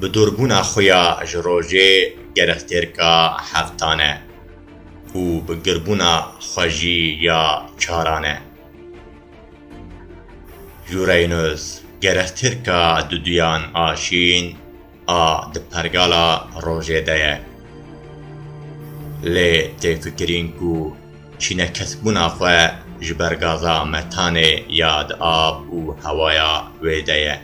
Bi dûrbûna xwe ya ji rojê gerextêrka heftan e û bi girbûna xwe jî ya çaran e. Uranüs gerextêrka duduyan a şîn a di pergala rojê de ye. Lê tê fikirîn ku çînekesbûna xwe ji ber gaza metanê ya di av û hewaya wê de ye.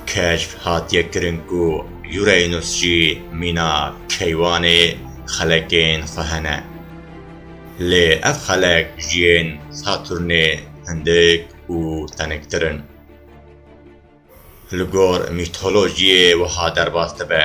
Keşf hatiye kirin ku Uranus jî mîna keywanê xelekên xwe hene. Lê ev xelek ji yên Saturnê hindik û teniktir in. Li gor mîtolojiyê wiha derbas dibe.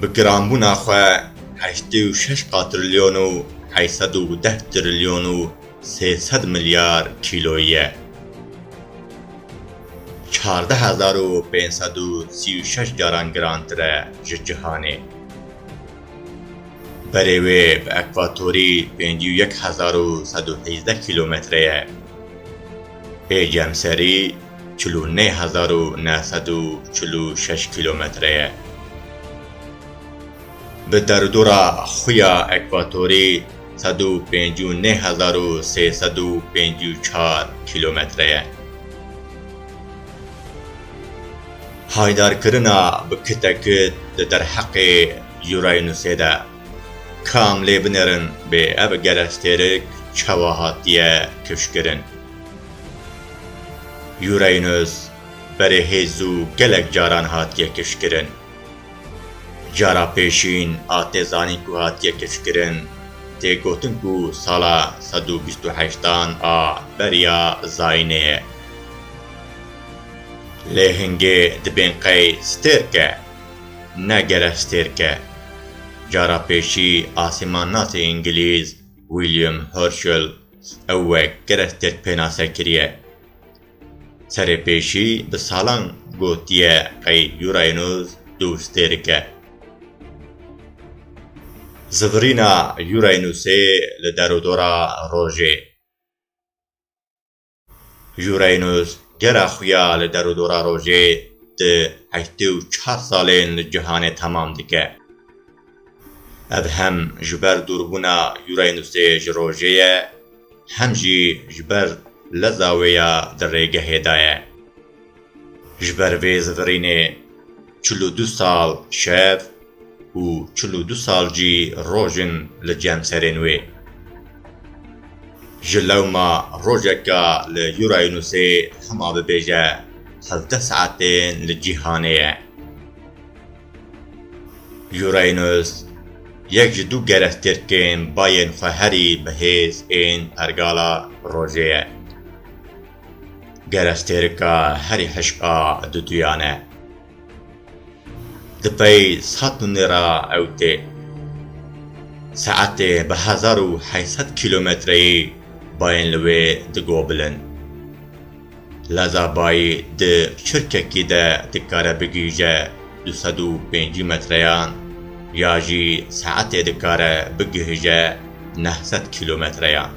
Bi giranbûna xwe heştê û şeş qatrilyon û heyt sed û deh trilyon û sê sed milyar kîloyî ye. Çardeh hezar û pênc sed û sî û şeş caran girantir e ji cihanê. Berê wê bi ekwatorî pêncî û yek hezar û sed û hîzdeh kîlometre ye. Ê cemserî çil û nê hezar û neh sed û çil û şeş kîlometre ye. Bi derûdora xuya ekwatorî sed û pêncî û nê hezar û sê sed û pêncî û çar kîlometre ye. Haydarkirina bi kite kit di derheqê Uranusê de kam lê binêrin bê ev gerestêrik çawa hatiye kifşkirin? Uranus berê hêzû gelek caran hatiye kişkirin. Cara pêşîn a tê zanîn ku hatiye kişkirin tê gotin ku sala sed û bîst û heştan a beriya zayînê ye. Lê hingê dibên qey stêrk e, ne gerek stêrk e. Cara pêşî asîmannasê îngilîz William Herschel Ew wek gerek tirk pênase kiriye. Serêpêşî bi salan gotiye qey Euraynos dûz tê dike. Zivirîna Euraynosê li derûdora rojê. Euraynos gera xwe ya li derûdora rojê di heştê û çar salên li cihanê temam dike. Ev hem ji ber dûrbûna Yûrayê Nûstê ji rojê ye, hem jî ji ber leza wê ya di rêgehê de ye. Ji ber vê zivirînê çil û du sal şev û çil û du sal jî roj in li cemserên wê. Ji lewma rojeka li Yûrayê Nûstê hema bibêje hevdeh saetên li cîhanê ye. Uranus, yek ji du gerestêrkên bayên xwe herî bi hêz ên pergala rojê ye. Gerestêrka herî hişk a duduyan e. Di pey Satûnê re ew tê. Saetê bi hezar û heyset kîlometreyî bayên li wê digobilin. Leza bayî di çirkekî de dikare bigihîje du sed û pêncî metreyan ya jî saetê dikare bigihije neh sed kîlometreyan.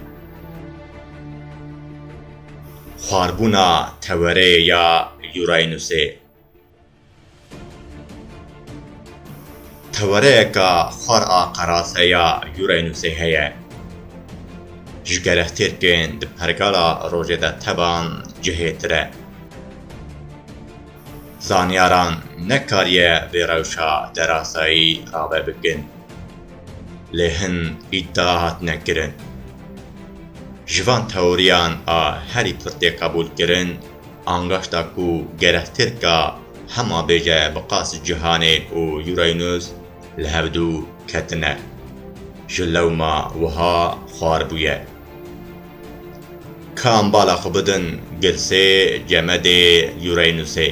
Xwarbûna tewereyê ya Uranusê. Tewereyeka xwar a qerase ya Uranusê heye. Ji gelek tirkên di pergala rojê de tevan cihêtir e. Zanyaran nekariye vê rewşa derasayî rave bikin. Lê hin îdia hatine kirin. Ji van teoriyan a herî pirtê qebûl kirin, Angaşta ku gerek Tirka hema bêje bi qas Cîhanê û Euraynus li hev dû ketine, ji lewma wiha xwar bûye. Ka em bala xwe bidin girsê cemedê Euraynusê.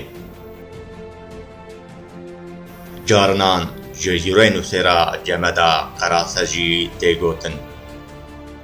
Carinan ji Euraynusê re cemeda qerase jî tê gotin.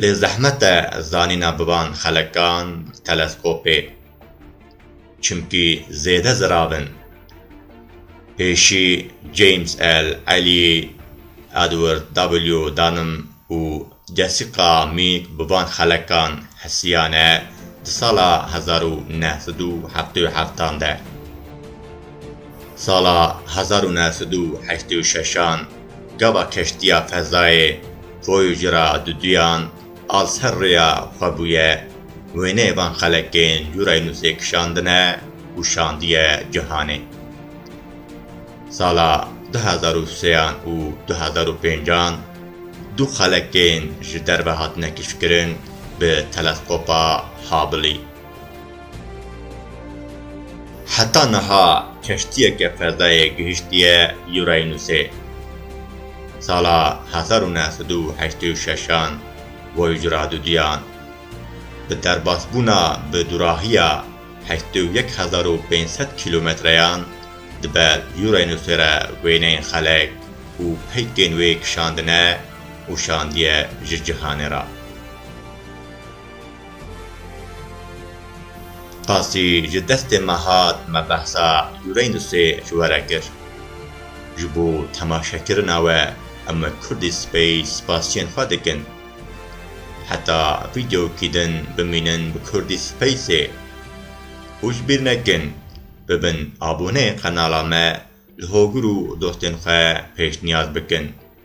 Lê zehmet e zanîna biban xelekan teleskopê çimkî zêde zirav in. Pêşî James L, Elî, Edward W, Dunham û Jessica Meek biban xelekan hesiyane di sala hezar û neh sed û heftê û heftan de. Sala hezar û neh sed û heştê û şeşan gava keştiya fezayê Koyu ji ra di duyan a ser rêya xwe bûye. Wêneyê van xelekên cûrayî nûsê kişandine û şandiye cihanê. Sala du hezar û seyan û du hezar û pêncan du xelekên ji derve hatine kişkirin bi telesqopa Hubblî. Heta niha keştiyeke fezayê gihiştiye Uranusê. Sala hezar û neh sed û heştê û şeşan Voyager a duduyan. Bi derbasbûna bi dûrahiya heştê û yek hezar û pênc sed kîlometreyan dibe Uranusê re wêneyên xelek û peykên wê kişandine û şandiye ji cihanê re. Qasî ji destê me hat me behsa Uranusê ji we re kir. Ji bo temaşekirina we em Kurdî Space spasiyên xwe dikin. Heta vîdeokî din bimînin bi Kurdî Spaceê û ji bîr nekin bibin aboneyê qenala me li hogir û dostên xwe pêşniyaz bikin.